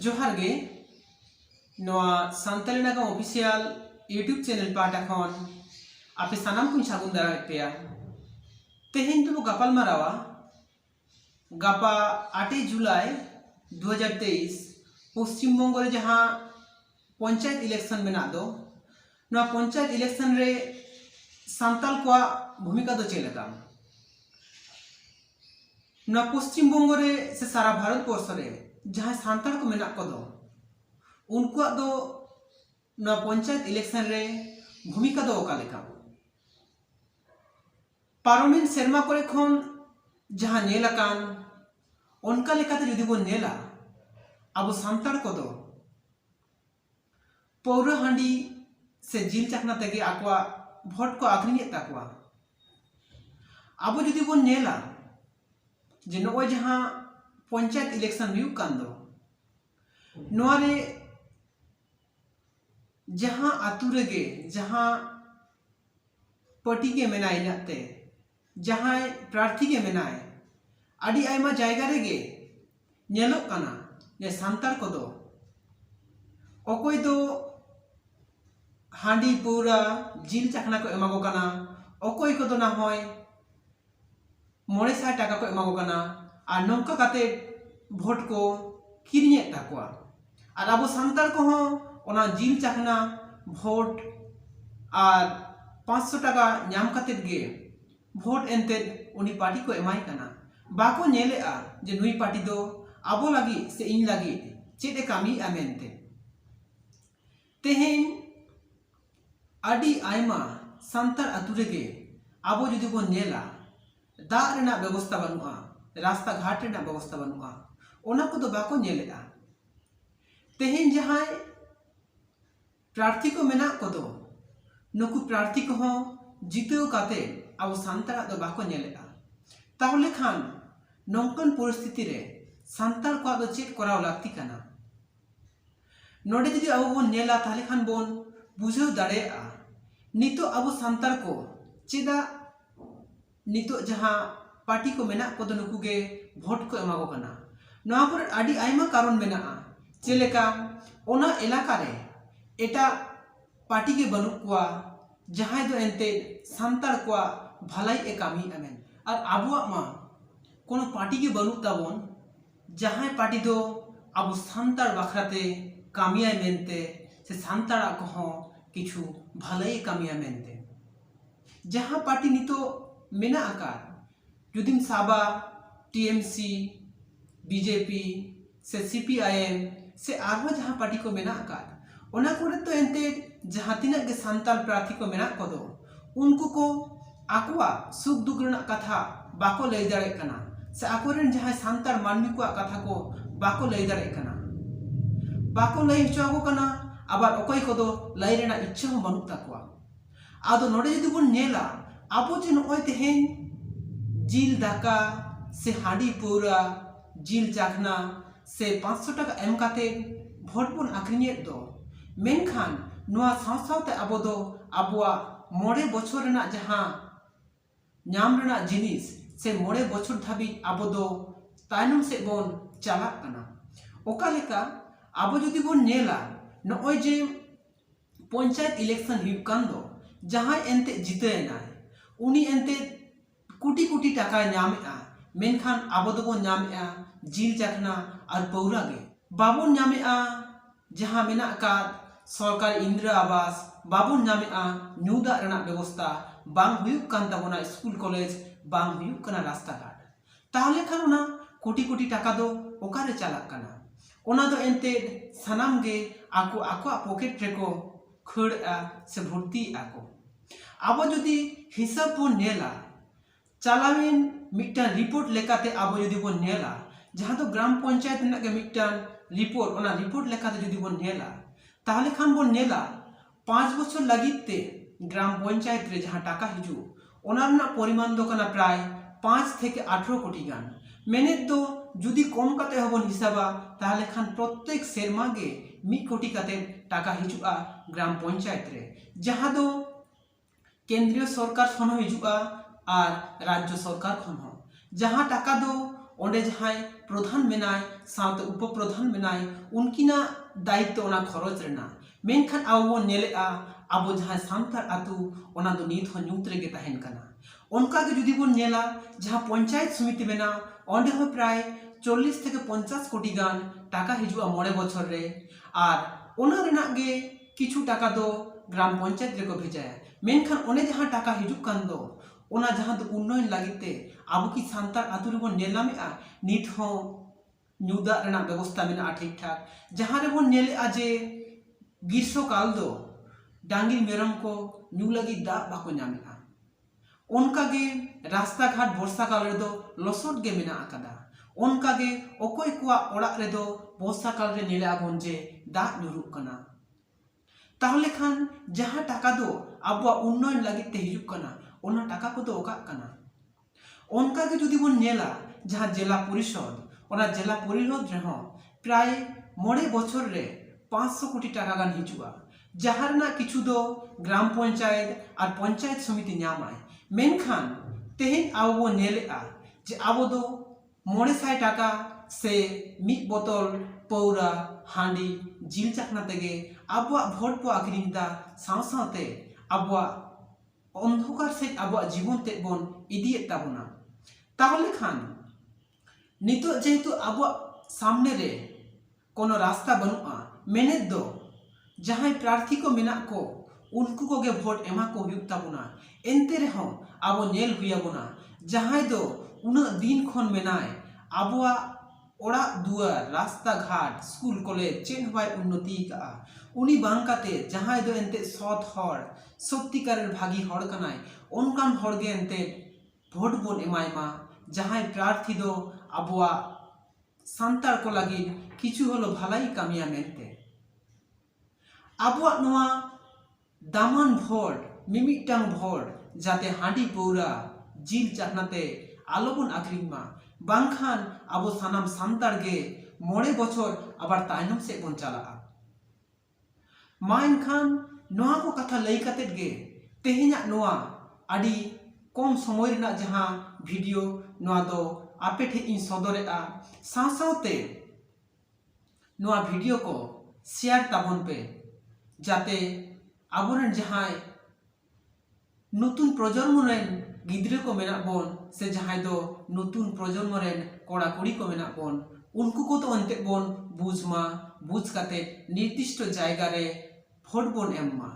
ᱡᱚᱦᱟᱨ ᱜᱮ ᱱᱚᱣᱟ ᱥᱟᱱᱛᱟᱲᱤ ᱱᱟᱜᱟᱢ ᱚᱯᱷᱤᱥᱤᱭᱟᱞ ᱤᱭᱩᱴᱩᱵᱽ ᱪᱮᱱᱮᱞ ᱯᱟᱦᱴᱟ ᱠᱷᱚᱱ ᱟᱯᱮ ᱥᱟᱱᱟᱢ ᱠᱚᱧ ᱥᱟᱹᱜᱩᱱ ᱫᱟᱨᱟᱢᱮᱫ ᱯᱮᱭᱟ ᱛᱮᱦᱮᱧ ᱫᱚᱵᱚ ᱜᱟᱯᱟᱞ ᱢᱟᱨᱟᱣᱟ ᱜᱟᱯᱟ ᱟᱴᱮ ᱡᱩᱞᱟᱭ ᱫᱩ ᱦᱟᱡᱟᱨ ᱛᱮᱭᱤᱥ ᱯᱚᱥᱪᱤᱢ ᱵᱚᱝᱜᱚ ᱨᱮ ᱡᱟᱦᱟᱸ ᱯᱚᱧᱪᱟᱭᱮᱛ ᱤᱞᱮᱠᱥᱚᱱ ᱢᱮᱱᱟᱜ ᱫᱚ ᱱᱚᱣᱟ ᱯᱚᱧᱪᱟᱭᱮᱛ ᱤᱞᱮᱠᱥᱚᱱ ᱨᱮ ᱥᱟᱱᱛᱟᱞ ᱠᱚᱣᱟᱜ ᱵᱷᱩᱢᱤᱠᱟ ᱫᱚ ᱪᱮᱫ ᱞᱮᱠᱟ ᱱᱚᱣᱟ ᱯᱚᱥᱪᱤᱢ ᱵᱚᱝᱜᱚ ᱨᱮ ᱥᱮ ᱥᱟᱨᱟ ᱵᱷᱟᱨᱚᱛ ᱵᱚᱨᱥᱚ ᱨᱮ ᱡᱟᱦᱟᱸᱭ ᱥᱟᱱᱛᱟᱲ ᱠᱚ ᱢᱮᱱᱟᱜ ᱠᱚ ᱫᱚ ᱩᱱᱠᱩᱣᱟᱜ ᱫᱚ ᱱᱚᱣᱟ ᱯᱚᱧᱪᱟᱭᱮᱛ ᱤᱞᱮᱠᱥᱚᱱ ᱨᱮ ᱵᱷᱩᱢᱤᱠᱟ ᱫᱚ ᱚᱠᱟ ᱞᱮᱠᱟ ᱯᱟᱨᱚᱢᱮᱱ ᱥᱮᱨᱢᱟ ᱠᱚᱨᱮ ᱠᱷᱚᱱ ᱡᱟᱦᱟᱸ ᱧᱮᱞ ᱟᱠᱟᱱ ᱚᱱᱠᱟ ᱞᱮᱠᱟᱛᱮ ᱡᱩᱫᱤ ᱵᱚᱱ ᱧᱮᱞᱟ ᱟᱵᱚ ᱥᱟᱱᱛᱟᱲ ᱠᱚᱫᱚ ᱯᱟᱹᱣᱨᱟᱹ ᱦᱟᱺᱰᱤ ᱥᱮ ᱡᱤᱞ ᱪᱟᱠᱷᱱᱟ ᱛᱮᱜᱮ ᱟᱠᱚᱣᱟᱜ ᱵᱷᱳᱴ ᱠᱚ ᱟᱠᱷᱨᱤᱧᱮᱫ ᱛᱟᱠᱚᱣᱟ ᱟᱵᱚ ᱡᱩᱫᱤ ᱵᱚᱱ ᱧᱮᱞᱟ ᱡᱮ ᱱᱚᱜᱼᱚᱭ ᱡᱟᱦᱟᱸ ᱯᱚᱧᱪᱟᱭᱮᱛ ᱤᱞᱮᱠᱥᱚᱱ ᱦᱩᱭᱩᱜ ᱠᱟᱱ ᱫᱚ ᱱᱚᱣᱟ ᱨᱮ ᱡᱟᱦᱟᱸ ᱟᱹᱛᱩ ᱨᱮᱜᱮ ᱡᱟᱦᱟᱸ ᱯᱟᱹᱴᱤ ᱜᱮ ᱢᱮᱱᱟᱭ ᱤᱧᱟᱹᱜ ᱛᱮ ᱡᱟᱦᱟᱸᱭ ᱯᱨᱟᱨᱛᱷᱤ ᱜᱮ ᱢᱮᱱᱟᱭ ᱟᱹᱰᱤ ᱟᱭᱢᱟ ᱡᱟᱭᱜᱟ ᱨᱮᱜᱮ ᱧᱮᱞᱚᱜ ᱠᱟᱱᱟ ᱡᱮ ᱥᱟᱱᱛᱟᱲ ᱠᱚᱫᱚ ᱚᱠᱚᱭ ᱫᱚ ᱦᱟᱺᱰᱤ ᱯᱟᱹᱣᱨᱟᱹ ᱡᱤᱞ ᱪᱟᱠᱷᱱᱟ ᱠᱚ ᱮᱢᱟ ᱠᱚ ᱠᱟᱱᱟ ᱚᱠᱚᱭ ᱠᱚᱫᱚ ᱱᱟᱦᱚᱭ ᱢᱚᱬᱮ ᱥᱟᱭ ᱴᱟᱠᱟ ᱠᱚ ᱮᱢᱟ ᱠᱚ ᱠᱟᱱᱟ ᱟᱨ ᱱᱚᱝᱠᱟ ᱠᱟᱛᱮ ᱵᱷᱳᱴ ᱠᱚ ᱠᱤᱨᱤᱧᱮᱫ ᱛᱟᱠᱚᱣᱟ ᱟᱨ ᱟᱵᱚ ᱥᱟᱱᱛᱟᱲ ᱠᱚᱦᱚᱸ ᱚᱱᱟ ᱡᱤᱞ ᱪᱟᱠᱷᱱᱟ ᱵᱷᱳᱴ ᱟᱨ ᱯᱟᱸᱪᱥᱚ ᱴᱟᱠᱟ ᱧᱟᱢ ᱠᱟᱛᱮ ᱜᱮ ᱵᱷᱳᱴ ᱮᱱᱛᱮ ᱩᱱᱤ ᱯᱟᱨᱴᱤ ᱠᱚ ᱮᱢᱟᱭ ᱠᱟᱱᱟ ᱵᱟᱠᱚ ᱧᱮᱞᱮᱜᱼᱟ ᱡᱮ ᱱᱩᱭ ᱯᱟᱨᱴᱤ ᱫᱚ ᱟᱵᱚ ᱞᱟᱹᱜᱤᱫ ᱥᱮ ᱤᱧ ᱞᱟᱹᱜᱤᱫ ᱪᱮᱫ ᱮ ᱠᱟᱹᱢᱤᱭᱮᱜᱼᱟ ᱢᱮᱱᱛᱮ ᱛᱮᱦᱮᱧ ᱟᱹᱰᱤ ᱟᱭᱢᱟ ᱥᱟᱱᱛᱟᱲ ᱟᱹᱛᱩ ᱨᱮᱜᱮ ᱟᱵᱚ ᱡᱩᱫᱤ ᱵᱚᱱ ᱧᱮᱞᱟ ᱫᱟᱜ ᱨᱮᱱᱟᱜ ᱵᱮᱵᱚᱥᱛᱟ ᱵᱟᱹᱱᱩᱜᱼᱟ ᱨᱟᱥᱛᱟ ᱜᱷᱟᱴ ᱨᱮᱱᱟᱜ ᱵᱮᱵᱚᱥᱛᱟ ᱵᱟᱹᱱᱩᱜᱼᱟ ᱚᱱᱟ ᱠᱚᱫᱚ ᱵᱟᱠᱚ ᱧᱮᱞᱮᱫᱼᱟ ᱛᱮᱦᱮᱧ ᱡᱟᱦᱟᱸᱭ ᱯᱨᱟᱨᱛᱷᱤ ᱠᱚ ᱢᱮᱱᱟᱜ ᱠᱚᱫᱚ ᱱᱩᱠᱩ ᱯᱨᱟᱨᱛᱷᱤ ᱠᱚᱦᱚᱸ ᱡᱤᱛᱟᱹᱣ ᱠᱟᱛᱮ ᱟᱵᱚ ᱥᱟᱱᱛᱟᱲᱟᱜ ᱫᱚ ᱵᱟᱠᱚ ᱧᱮᱞᱮᱫᱼᱟ ᱛᱟᱦᱚᱞᱮ ᱠᱷᱟᱱ ᱱᱚᱝᱠᱟᱱ ᱯᱚᱨᱤᱥᱛᱷᱤᱛᱤ ᱨᱮ ᱥᱟᱱᱛᱟᱲ ᱠᱚᱣᱟᱜ ᱫᱚ ᱪᱮᱫ ᱠᱚᱨᱟᱣ ᱞᱟᱹᱠᱛᱤ ᱠᱟᱱᱟ ᱱᱚᱰᱮ ᱡᱩᱫᱤ ᱟᱵᱚ ᱵᱚᱱ ᱧᱮᱞᱟ ᱛᱟᱦᱚᱞᱮ ᱠᱷᱟᱱ ᱵᱚᱱ ᱵᱩᱡᱷᱟᱹᱣ ᱫᱟᱲᱮᱭᱟᱜᱼᱟ ᱱᱤᱛᱚᱜ ᱟᱵᱚ ᱥᱟᱱᱛᱟᱲ ᱠᱚ ᱪᱮᱫᱟᱜ ᱱᱤᱛᱚᱜ ᱡᱟᱦᱟᱸ ᱯᱟᱨᱴᱤ ᱠᱚ ᱢᱮᱱᱟᱜ ᱠᱚᱫᱚ ᱱᱩᱠᱩ ᱜᱮ ᱵᱷᱳᱴ ᱠᱚ ᱮᱢᱟ ᱠᱚ ᱠᱟᱱᱟ ᱱᱚᱣᱟ ᱠᱚᱨᱮ ᱟᱹᱰᱤ ᱟᱭᱢᱟ ᱠᱟᱨᱚᱱ ᱢᱮᱱᱟᱜᱼᱟ ᱡᱮᱞᱮᱠᱟ ᱚᱱᱟ ᱮᱞᱟᱠᱟ ᱨᱮ ᱮᱴᱟᱜ ᱯᱟᱨᱴᱤ ᱜᱮ ᱵᱟᱹᱱᱩᱜ ᱠᱚᱣᱟ ᱡᱟᱦᱟᱸᱭ ᱫᱚ ᱮᱱᱛᱮ ᱥᱟᱱᱛᱟᱲ ᱠᱚᱣᱟᱜ ᱵᱷᱟᱹᱞᱟᱹᱭ ᱮ ᱠᱟᱹᱢᱤᱭᱮᱫᱼᱟ ᱢᱮᱱᱛᱮ ᱟᱨ ᱟᱵᱚᱣᱟᱜ ᱢᱟ ᱠᱳᱱᱳ ᱯᱟᱨᱴᱤ ᱜᱮ ᱵᱟᱹᱱᱩᱜ ᱛᱟᱵᱚᱱ ᱡᱟᱦᱟᱸᱭ ᱯᱟᱨᱴᱤ ᱫᱚ ᱟᱵᱚ ᱥᱟᱱᱛᱟᱲ ᱵᱟᱠᱷᱨᱟ ᱛᱮ ᱠᱟᱹᱢᱤᱭᱟᱭ ᱢᱮᱱᱛᱮ ᱥᱮ ᱥᱟᱱᱛᱟᱲᱟᱜ ᱠᱚᱦᱚᱸ ᱠᱤᱪᱷᱩ ᱵᱷᱟᱹᱞᱟᱹᱭᱮ ᱠᱟᱹᱢᱤᱭᱟ ᱢᱮᱱᱛᱮ ᱡᱟᱦᱟᱸ ᱯᱟᱨᱴᱤ ᱱᱤᱛᱚᱜ ᱢᱮᱱᱟᱜ ᱟᱠᱟᱫ ᱡᱩᱫᱤᱢ ᱥᱟᱵᱟ T M C B J P ᱥᱮ ᱥᱤ ᱯᱤ ᱟᱭ ᱮᱢ ᱥᱮ ᱟᱨᱦᱚᱸ ᱡᱟᱦᱟᱸ ᱯᱟᱨᱴᱤ ᱠᱚ ᱢᱮᱱᱟᱜ ᱟᱠᱟᱫ ᱚᱱᱟ ᱠᱚᱨᱮ ᱫᱚ ᱮᱱᱛᱮ ᱡᱟᱦᱟᱸ ᱛᱤᱱᱟᱹᱜ ᱜᱮ ᱥᱟᱱᱛᱟᱲ ᱯᱨᱟᱨᱛᱷᱤ ᱠᱚ ᱢᱮᱱᱟᱜ ᱠᱚᱫᱚ ᱩᱱᱠᱩ ᱠᱚ ᱟᱠᱚᱣᱟᱜ ᱥᱩᱠ ᱫᱩᱠ ᱨᱮᱱᱟᱜ ᱠᱟᱛᱷᱟ ᱵᱟᱠᱚ ᱞᱟᱹᱭ ᱫᱟᱲᱮᱜ ᱠᱟᱱᱟ ᱥᱮ ᱟᱠᱚ ᱨᱮᱱ ᱡᱟᱦᱟᱸᱭ ᱥᱟᱱᱛᱟᱲ ᱢᱟᱹᱱᱢᱤ ᱠᱚᱣᱟᱜ ᱠᱟᱛᱷᱟ ᱠᱚ ᱵᱟᱠᱚ ᱞᱟᱹᱭ ᱫᱟᱲᱮᱜ ᱠᱟᱱᱟ ᱵᱟᱠᱚ ᱞᱟᱹᱭ ᱦᱚᱪᱚ ᱟᱠᱚ ᱠᱟᱱᱟ ᱟᱵᱟᱨ ᱚᱠᱚᱭ ᱠᱚᱫᱚ ᱞᱟᱹᱭ ᱨᱮᱱᱟᱜ ᱤᱪᱪᱷᱟᱹ ᱦᱚᱸ ᱵᱟᱹᱱᱩᱜ ᱛᱟᱠᱚᱣᱟ ᱟᱫᱚ ᱱᱚᱰᱮ ᱡᱩᱫᱤ ᱵᱚᱱ ᱧᱮᱞᱟ ᱟᱵᱚ ᱡᱮ ᱱᱚᱜᱼᱚᱭ ᱛᱮᱦᱮᱧ ᱡᱤᱞ ᱫᱟᱠᱟ ᱥᱮ ᱦᱟᱺᱰᱤ ᱯᱟᱹᱣᱨᱟ ᱡᱤᱞ ᱪᱟᱠᱷᱱᱟ ᱥᱮ ᱯᱟᱸᱪᱥᱚ ᱴᱟᱠᱟ ᱮᱢ ᱠᱟᱛᱮ ᱵᱷᱳᱴ ᱵᱚᱱ ᱟᱠᱷᱨᱤᱧᱮᱫ ᱫᱚ ᱢᱮᱱᱠᱷᱟᱱ ᱱᱚᱣᱟ ᱥᱟᱶ ᱥᱟᱶᱛᱮ ᱟᱵᱚ ᱫᱚ ᱟᱵᱚᱣᱟᱜ ᱢᱚᱬᱮ ᱵᱚᱪᱷᱚᱨ ᱨᱮᱱᱟᱜ ᱡᱟᱦᱟᱸ ᱧᱟᱢ ᱨᱮᱱᱟᱜ ᱡᱤᱱᱤᱥ ᱥᱮ ᱢᱚᱬᱮ ᱵᱚᱪᱷᱚᱨ ᱫᱷᱟᱹᱵᱤᱡ ᱟᱵᱚ ᱫᱚ ᱛᱟᱭᱱᱚᱢ ᱥᱮᱫ ᱵᱚᱱ ᱪᱟᱞᱟᱜ ᱠᱟᱱᱟ ᱚᱠᱟ ᱞᱮᱠᱟ ᱟᱵᱚ ᱡᱩᱫᱤ ᱵᱚᱱ ᱧᱮᱞᱟ ᱱᱚᱜᱼᱚᱭ ᱡᱮ ᱯᱚᱧᱪᱟᱭᱮᱛ ᱤᱞᱮᱠᱥᱚᱱ ᱦᱩᱭᱩᱜ ᱠᱟᱱ ᱫᱚ ᱡᱟᱦᱟᱸᱭ ᱮᱱᱛᱮ ᱡᱤᱛᱟᱹ ᱮᱱᱟᱭ ᱩᱱᱤ ᱮᱱᱛᱮ ᱠᱳᱴᱤ ᱠᱳᱴᱤ ᱴᱟᱠᱟᱭ ᱧᱟᱢᱮᱜᱼᱟ ᱢᱮᱱᱠᱷᱟᱱ ᱟᱵᱚ ᱫᱚᱵᱚᱱ ᱧᱟᱢᱮᱜᱼᱟ ᱡᱤᱞ ᱪᱟᱠᱷᱱᱟ ᱟᱨ ᱯᱟᱹᱣᱨᱟᱹ ᱜᱮ ᱵᱟᱵᱚᱱ ᱧᱟᱢᱮᱜᱼᱟ ᱡᱟᱦᱟᱸ ᱢᱮᱱᱟᱜ ᱟᱠᱟᱫ ᱥᱚᱨᱠᱟᱨᱤ ᱤᱱᱫᱽᱨᱟ ᱟᱵᱟᱥ ᱵᱟᱵᱚᱱ ᱧᱟᱢᱮᱫᱼᱟ ᱧᱩ ᱫᱟᱜ ᱨᱮᱱᱟᱜ ᱵᱮᱵᱚᱥᱛᱟ ᱵᱟᱝ ᱦᱩᱭᱩᱜ ᱠᱟᱱ ᱛᱟᱵᱚᱱᱟ ᱤᱥᱠᱩᱞ ᱠᱚᱞᱮᱡᱽ ᱵᱟᱝ ᱦᱩᱭᱩᱜ ᱠᱟᱱᱟ ᱨᱟᱥᱛᱟ ᱜᱷᱟᱴ ᱛᱟᱦᱚᱞᱮ ᱠᱷᱟᱱ ᱚᱱᱟ ᱠᱳᱴᱤ ᱠᱳᱴᱤ ᱴᱟᱠᱟ ᱫᱚ ᱚᱠᱟᱨᱮ ᱪᱟᱞᱟᱜ ᱠᱟᱱᱟ ᱚᱱᱟ ᱫᱚ ᱮᱱᱛᱮ ᱥᱟᱱᱟᱢ ᱜᱮ ᱟᱠᱚ ᱟᱠᱚᱣᱟᱜ ᱯᱚᱠᱮᱴ ᱨᱮᱠᱚ ᱠᱷᱟᱹᱲᱮᱫᱼᱟ ᱥᱮ ᱵᱷᱚᱨᱛᱤᱭᱮᱫᱼᱟ ᱠᱚ ᱟᱵᱚ ᱡᱩᱫᱤ ᱦᱤᱥᱟᱹᱵ ᱵᱚᱱ ᱧᱮᱞᱟ ᱪᱟᱞᱟᱣᱮᱱ ᱢᱤᱫᱴᱟᱝ ᱨᱤᱯᱳᱨᱴ ᱞᱮᱠᱟᱛᱮ ᱟᱵᱚ ᱡᱩᱫᱤ ᱵᱚᱱ ᱧᱮᱞᱟ ᱡᱟᱦᱟᱸ ᱫᱚ ᱜᱨᱟᱢ ᱯᱚᱧᱪᱟᱭᱮᱛ ᱨᱮᱱᱟᱜ ᱜᱮ ᱢᱤᱫᱴᱟᱝ ᱨᱤᱯᱳᱨᱴ ᱚᱱᱟ ᱨᱤᱯᱳᱨᱴ ᱞᱮᱠᱟᱛᱮ ᱡᱩᱫᱤ ᱵᱚᱱ ᱧᱮᱞᱟ ᱛᱟᱦᱚᱞᱮ ᱠᱷᱟᱱ ᱵᱚᱱ ᱧᱮᱞᱟ ᱯᱟᱸᱪ ᱵᱚᱪᱷᱚᱨ ᱞᱟᱹᱜᱤᱫ ᱛᱮ ᱜᱨᱟᱢ ᱯᱚᱧᱪᱟᱭᱮᱛ ᱨᱮ ᱡᱟᱦᱟᱸ ᱴᱟᱠᱟ ᱦᱤᱡᱩᱜ ᱚᱱᱟ ᱨᱮᱱᱟᱜ ᱯᱚᱨᱤᱢᱟᱱ ᱫᱚ ᱠᱟᱱᱟ ᱯᱨᱟᱭ ᱯᱟᱸᱪ ᱛᱷᱮᱠᱮ ᱟᱴᱷᱨᱚ ᱠᱳᱴᱤ ᱜᱟᱱ ᱢᱮᱱᱮᱫ ᱫᱚ ᱡᱩᱫᱤ ᱠᱚᱢ ᱠᱟᱛᱮ ᱦᱚᱸᱵᱚᱱ ᱦᱤᱥᱟᱹᱵᱟ ᱛᱟᱦᱚᱞᱮ ᱠᱷᱟᱱ ᱯᱨᱚᱛᱛᱮᱠ ᱥᱮᱨᱢᱟ ᱜᱮ ᱢᱤᱫ ᱠᱳᱴᱤ ᱠᱟᱛᱮ ᱴᱟᱠᱟ ᱦᱤᱡᱩᱜᱼᱟ ᱜᱨᱟᱢ ᱯᱚᱧᱪᱟᱭᱮᱛ ᱨᱮ ᱡᱟᱦᱟᱸ ᱫᱚ ᱠᱮᱱᱫᱨᱤᱭᱚ ᱥᱚᱨᱠᱟᱨ ᱠᱷᱚᱱ ᱦᱚᱸ ᱦᱤᱡᱩᱜᱼᱟ ᱟᱨ ᱨᱟᱡᱽᱡᱚ ᱥᱚᱨᱠᱟᱨ ᱠᱷᱚᱱ ᱦᱚᱸ ᱡᱟᱦᱟᱸ ᱴᱟᱠᱟ ᱫᱚ ᱚᱸᱰᱮ ᱡᱟᱦᱟᱸᱭ ᱯᱨᱚᱫᱷᱟᱱ ᱢᱮᱱᱟᱭ ᱥᱟᱶᱛᱮ ᱩᱯᱚ ᱯᱨᱚᱫᱷᱟᱱ ᱢᱮᱱᱟᱭ ᱩᱱᱠᱤᱱᱟᱜ ᱫᱟᱭᱤᱛᱛᱚ ᱚᱱᱟ ᱠᱷᱚᱨᱚᱪ ᱨᱮᱱᱟᱜ ᱢᱮᱱᱠᱷᱟᱱ ᱟᱵᱚ ᱵᱚᱱ ᱧᱮᱞᱮᱜᱼᱟ ᱟᱵᱚ ᱡᱟᱦᱟᱸᱭ ᱥᱟᱱᱛᱟᱲ ᱟᱹᱛᱩ ᱚᱱᱟ ᱫᱚ ᱱᱤᱛ ᱦᱚᱸ ᱧᱩᱛ ᱨᱮᱜᱮ ᱛᱟᱦᱮᱱ ᱠᱟᱱᱟ ᱚᱱᱠᱟ ᱜᱮ ᱡᱩᱫᱤ ᱵᱚᱱ ᱧᱮᱞᱟ ᱡᱟᱦᱟᱸ ᱯᱚᱧᱪᱟᱭᱮᱛ ᱥᱚᱢᱤᱛᱤ ᱢᱮᱱᱟᱜᱼᱟ ᱚᱸᱰᱮ ᱦᱚᱸ ᱯᱨᱟᱭ ᱪᱚᱞᱞᱤᱥ ᱛᱷᱮᱠᱮ ᱯᱚᱧᱪᱟᱥ ᱠᱳᱴᱤ ᱜᱟᱱ ᱴᱟᱠᱟ ᱦᱤᱡᱩᱜᱼᱟ ᱢᱚᱬᱮ ᱵᱚᱪᱷᱚᱨ ᱨᱮ ᱟᱨ ᱚᱱᱟ ᱨᱮᱱᱟᱜ ᱜᱮ ᱠᱤᱪᱷᱩ ᱴᱟᱠᱟ ᱫᱚ ᱜᱨᱟᱢ ᱯᱚᱧᱪᱟᱭᱮᱛ ᱨᱮᱠᱚ ᱵᱷᱮᱡᱟᱭᱟ ᱢᱮᱱᱠᱷᱟᱱ ᱚᱱᱮ ᱡᱟᱦᱟᱸ ᱴᱟᱠᱟ ᱦᱤᱡᱩᱜ ᱠᱟᱱ ᱫᱚ ᱚᱱᱟ ᱡᱟᱦᱟᱸ ᱫᱚ ᱩᱱᱱᱚᱭᱚᱱ ᱞᱟᱹᱜᱤᱫ ᱛᱮ ᱟᱵᱚ ᱠᱤ ᱥᱟᱱᱛᱟᱲ ᱟᱛᱳ ᱨᱮᱵᱚᱱ ᱧᱮᱞ ᱧᱟᱢᱮᱜᱼᱟ ᱱᱤᱛ ᱦᱚᱸ ᱧᱩ ᱫᱟᱜ ᱨᱮᱱᱟᱜ ᱵᱮᱵᱚᱥᱛᱟ ᱢᱮᱱᱟᱜᱼᱟ ᱴᱷᱤᱠ ᱴᱷᱟᱠ ᱡᱟᱦᱟᱸ ᱨᱮᱵᱚᱱ ᱧᱮᱞᱮᱜᱼᱟ ᱡᱮ ᱜᱤᱨᱥᱚ ᱠᱟᱞ ᱫᱚ ᱰᱟᱝᱨᱤ ᱢᱮᱨᱚᱢ ᱠᱚ ᱧᱩ ᱞᱟᱹᱜᱤᱫ ᱫᱟᱜ ᱵᱟᱠᱚ ᱧᱟᱢᱮᱜᱼᱟ ᱚᱱᱠᱟᱜᱮ ᱨᱟᱥᱛᱟ ᱜᱷᱟᱴ ᱵᱚᱨᱥᱟ ᱠᱟᱞ ᱨᱮᱫᱚ ᱞᱚᱥᱚᱫ ᱜᱮ ᱢᱮᱱᱟᱜ ᱟᱠᱟᱫᱟ ᱚᱱᱠᱟᱜᱮ ᱚᱠᱚᱭ ᱠᱚᱣᱟᱜ ᱚᱲᱟᱜ ᱨᱮᱫᱚ ᱵᱚᱨᱥᱟ ᱠᱟᱞ ᱨᱮ ᱧᱮᱞᱮᱫ ᱟᱵᱚᱱ ᱡᱮ ᱫᱟᱜ ᱧᱩᱨᱩᱜ ᱠᱟᱱᱟ ᱛᱟᱦᱚᱞᱮ ᱠᱷᱟᱱ ᱡᱟᱦᱟᱸ ᱴᱟᱠᱟ ᱫᱚ ᱟᱵᱚᱣᱟᱜ ᱩᱱᱱᱚᱭᱚᱱ ᱞᱟᱹᱜᱤᱫ ᱛᱮ ᱦᱤᱡᱩᱜ ᱠᱟᱱᱟ ᱚᱱᱟ ᱴᱟᱠᱟ ᱠᱚᱫᱚ ᱚᱠᱟᱜ ᱠᱟᱱᱟ ᱚᱱᱠᱟᱜᱮ ᱡᱩᱫᱤ ᱵᱚᱱ ᱧᱮᱞᱟ ᱡᱟᱦᱟᱸ ᱡᱮᱞᱟ ᱯᱚᱨᱤᱥᱚᱫᱽ ᱚᱱᱟ ᱡᱮᱞᱟ ᱯᱚᱨᱤᱥᱚᱫᱽ ᱨᱮᱦᱚᱸ ᱯᱨᱟᱭ ᱢᱚᱬᱮ ᱵᱚᱪᱷᱚᱨ ᱨᱮ ᱯᱟᱸᱪᱥᱚ ᱠᱳᱴᱤ ᱴᱟᱠᱟ ᱜᱟᱱ ᱦᱤᱡᱩᱜᱼᱟ ᱡᱟᱦᱟᱸ ᱨᱮᱱᱟᱜ ᱠᱤᱪᱷᱩ ᱫᱚ ᱜᱨᱟᱢ ᱯᱚᱧᱪᱟᱭᱮᱛ ᱟᱨ ᱯᱚᱧᱪᱟᱭᱮᱛ ᱥᱚᱢᱤᱛᱤ ᱧᱟᱢᱟᱭ᱾ ᱢᱮᱱᱠᱷᱟᱱ ᱛᱮᱦᱮᱧ ᱟᱵᱚ ᱵᱚ ᱧᱮᱞᱮᱫᱼᱟ ᱡᱮ ᱟᱵᱚ ᱫᱚ ᱢᱚᱬᱮ ᱥᱟᱭ ᱴᱟᱠᱟ ᱥᱮ ᱢᱤᱫ ᱵᱚᱛᱚᱞ ᱯᱟᱹᱣᱨᱟ, ᱦᱟᱺᱰᱤ, ᱡᱤᱞ ᱪᱟᱠᱷᱱᱟ ᱛᱮᱜᱮ ᱟᱵᱚᱣᱟᱜ ᱵᱷᱳᱴ ᱵᱚ ᱟᱹᱠᱷᱨᱤᱧ ᱮᱫᱟ ᱥᱟᱶ ᱥᱟᱶᱛᱮ ᱟᱵᱚᱣᱟᱜ ᱚᱱᱫᱷᱚᱠᱟᱨ ᱥᱮᱫ ᱟᱵᱚᱣᱟᱜ ᱡᱤᱵᱚᱱ ᱛᱮᱫ ᱵᱚᱱ ᱤᱫᱤᱭᱮᱫ ᱛᱟᱵᱚᱱᱟ᱾ ᱛᱟᱦᱚᱞᱮ ᱠᱷᱟᱱ ᱱᱤᱛᱚᱜ ᱡᱮᱦᱮᱛᱩ ᱟᱵᱚᱣᱟᱜ ᱥᱟᱢᱱᱮ ᱨᱮ ᱠᱚᱱᱚ ᱨᱟᱥᱛᱟ ᱵᱟᱹᱱᱩᱜᱼᱟ ᱢᱮᱱᱮᱛ ᱫᱚ ᱡᱟᱦᱟᱸᱭ ᱯᱨᱟᱨᱛᱷᱤ ᱠᱚ ᱢᱮᱱᱟᱜ ᱠᱚ ᱩᱱᱠᱩ ᱠᱚᱜᱮ ᱵᱷᱳᱴ ᱮᱢᱟ ᱠᱚ ᱦᱩᱭᱩᱜ ᱛᱟᱵᱚᱱᱟ ᱮᱱᱛᱮ ᱨᱮᱦᱚᱸ ᱟᱵᱚ ᱧᱮᱞ ᱦᱩᱭ ᱟᱵᱚᱱᱟ ᱡᱟᱦᱟᱸᱭ ᱫᱚ ᱩᱱᱟᱹᱜ ᱫᱤᱱ ᱠᱷᱚᱱ ᱢᱮᱱᱟᱭ ᱟᱵᱚᱣᱟᱜ ᱚᱲᱟᱜ ᱫᱩᱣᱟᱹᱨ ᱨᱟᱥᱛᱟ ᱜᱷᱟᱴ ᱥᱠᱩᱞ ᱠᱚᱞᱮᱡᱽ ᱪᱮᱫ ᱦᱚᱸ ᱵᱟᱭ ᱩᱱᱱᱚᱛᱤ ᱟᱠᱟᱫᱼᱟ ᱩᱱᱤ ᱵᱟᱝ ᱠᱟᱛᱮ ᱡᱟᱦᱟᱸᱭ ᱫᱚ ᱮᱱᱛᱮ ᱥᱚᱛ ᱦᱚᱲ ᱥᱚᱛᱛᱤᱠᱟᱨ ᱵᱷᱟᱹᱜᱤ ᱦᱚᱲ ᱠᱟᱱᱟᱭ ᱚᱱᱠᱟᱱ ᱦᱚᱲ ᱜᱮ ᱮᱱᱛᱮ ᱵᱷᱳᱴ ᱵᱚᱱ ᱮᱢᱟᱭ ᱢᱟ ᱡᱟᱦᱟᱸᱭ ᱯᱨᱟᱨᱛᱷᱤ ᱫᱚ ᱟᱵᱚᱣᱟᱜ ᱥᱟᱱᱛᱟᱲ ᱠᱚ ᱞᱟᱹᱜᱤᱫ ᱠᱤᱪᱷᱩ ᱦᱚᱞᱮ ᱵᱷᱟᱹᱞᱟᱹᱭ ᱠᱟᱹᱢᱤᱭᱟ ᱢᱮᱱᱛᱮ ᱟᱵᱚᱣᱟᱜ ᱱᱚᱣᱟ ᱫᱟᱢᱟᱱ ᱵᱷᱳᱴ ᱢᱤᱢᱤᱫᱴᱟᱝ ᱵᱷᱳᱴ ᱡᱟᱛᱮ ᱦᱟᱺᱰᱤ ᱯᱟᱹᱣᱨᱟᱹ ᱡᱤᱞ ᱪᱟᱠᱷᱱᱟ ᱛᱮ ᱟᱞᱚ ᱵᱚᱱ ᱟᱠᱷᱨᱤᱧ ᱢᱟ ᱵᱟᱝᱠᱷᱟᱱ ᱟᱵᱚ ᱥᱟᱱᱟᱢ ᱥᱟᱱᱛᱟᱲ ᱜᱮ ᱢᱚᱬᱮ ᱵᱚᱪᱷᱚᱨ ᱟᱵᱟᱨ ᱛᱟᱭᱱᱚᱢ ᱥᱮᱫ ᱵᱚᱱ ᱪᱟᱞᱟᱜᱼᱟ ᱢᱟ ᱮᱱᱠᱷᱟᱱ ᱱᱚᱣᱟ ᱠᱚ ᱠᱟᱛᱷᱟ ᱞᱟᱹᱭ ᱠᱟᱛᱮ ᱜᱮ ᱛᱮᱦᱮᱧᱟᱜ ᱱᱚᱣᱟ ᱟᱹᱰᱤ ᱠᱚᱢ ᱥᱚᱢᱚᱭ ᱨᱮᱱᱟᱜ ᱡᱟᱦᱟᱸ ᱵᱷᱤᱰᱤᱭᱳ ᱱᱚᱣᱟ ᱫᱚ ᱟᱯᱮ ᱴᱷᱮᱡ ᱤᱧ ᱥᱚᱫᱚᱨᱮᱜᱼᱟ ᱥᱟᱶ ᱥᱟᱶᱛᱮ ᱱᱚᱣᱟ ᱵᱷᱤᱰᱤᱭᱳ ᱠᱚ ᱥᱮᱭᱟᱨ ᱛᱟᱵᱚᱱ ᱯᱮ ᱡᱟᱛᱮ ᱟᱵᱚᱨᱮᱱ ᱡᱟᱦᱟᱸᱭ ᱱᱩᱛᱩᱱ ᱯᱨᱚᱡᱚᱱᱢᱚ ᱨᱮᱱ ᱜᱤᱫᱽᱨᱟᱹ ᱠᱚ ᱢᱮᱱᱟᱜ ᱵᱚᱱ ᱥᱮ ᱡᱟᱦᱟᱸᱭ ᱫᱚ ᱱᱩᱛᱩᱱ ᱯᱨᱚᱡᱚᱱᱢᱚ ᱨᱮᱱ ᱠᱚᱲᱟ ᱠᱩᱲᱤ ᱠᱚ ᱢᱮᱱᱟᱜ ᱵᱚᱱ ᱩᱱᱠᱩ ᱠᱚᱫᱚ ᱮᱱᱛᱮᱫ ᱵᱚᱱ ᱵᱩᱡᱽ ᱢᱟ ᱵᱩᱡᱽ ᱠᱟᱛᱮ ᱱᱤᱨᱫᱤᱥᱴᱚ ᱡᱟᱭᱜᱟ ᱨᱮ ᱵᱷᱳᱴ ᱵᱚᱱ ᱮᱢ ᱢᱟ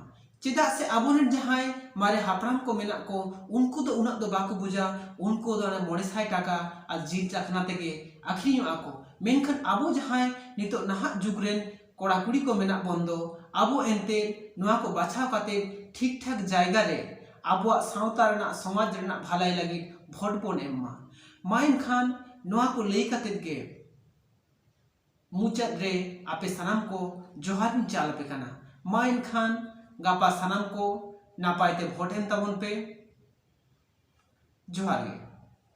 ᱪᱮᱫᱟᱜ ᱥᱮ ᱟᱵᱚ ᱨᱮᱱ ᱡᱟᱦᱟᱸᱭ ᱢᱟᱨᱮ ᱦᱟᱯᱲᱟᱢ ᱠᱚ ᱢᱮᱱᱟᱜ ᱠᱚ ᱩᱱᱠᱩ ᱫᱚ ᱩᱱᱟᱹᱜ ᱫᱚ ᱵᱟᱠᱚ ᱵᱩᱡᱟ ᱩᱱᱠᱩ ᱫᱚ ᱚᱱᱟ ᱢᱚᱬᱮ ᱥᱟᱭ ᱴᱟᱠᱟ ᱟᱨ ᱡᱤᱞ ᱪᱟᱠᱷᱱᱟ ᱛᱮᱜᱮ ᱟᱠᱷᱨᱤᱧᱚᱜᱼᱟ ᱠᱚ ᱢᱮᱱᱠᱷᱟᱱ ᱟᱵᱚ ᱡᱟᱦᱟᱸᱭ ᱱᱤᱛᱚᱜ ᱱᱟᱦᱟᱜ ᱡᱩᱜᱽ ᱨᱮᱱ ᱠᱚᱲᱟ ᱠᱩᱲᱤ ᱠᱚ ᱢᱮᱱᱟᱜ ᱵᱚᱱ ᱫᱚ ᱟᱵᱚ ᱮᱱᱛᱮ ᱱᱚᱣᱟ ᱠᱚ ᱵᱟᱪᱷᱟᱣ ᱠᱟᱛᱮ ᱴᱷᱤᱠ ᱴᱷᱟᱠ ᱡᱟᱭᱜᱟ ᱨᱮ ᱟᱵᱚᱣᱟᱜ ᱥᱟᱶᱛᱟ ᱨᱮᱱᱟᱜ ᱥᱚᱢᱟᱡᱽ ᱨᱮᱱᱟᱜ ᱵᱷᱟᱹᱞᱟᱹᱭ ᱞᱟᱹᱜᱤᱫ ᱵᱷᱳᱴ ᱵᱚᱱ ᱮᱢ ᱢᱟ ᱢᱟ ᱮᱱᱠᱷᱟᱱ ᱱᱚᱣᱟ ᱠᱚ ᱞᱟᱹᱭ ᱠᱟᱛᱮ ᱜᱮ ᱢᱩᱪᱟᱹᱫ ᱨᱮ ᱟᱯᱮ ᱥᱟᱱᱟᱢ ᱠᱚ ᱡᱚᱦᱟᱨ ᱤᱧ ᱪᱟᱞ ᱟᱯᱮ ᱠᱟᱱᱟ ᱢᱟ ᱮᱱᱠᱷᱟᱱ ᱜᱟᱯᱟ ᱥᱟᱱᱟᱢ ᱠᱚ ᱱᱟᱯᱟᱭ ᱛᱮ ᱵᱷᱳᱴ ᱮᱢ ᱛᱟᱵᱚᱱ ᱯᱮ ᱡᱚᱦᱟᱨ ᱜᱮ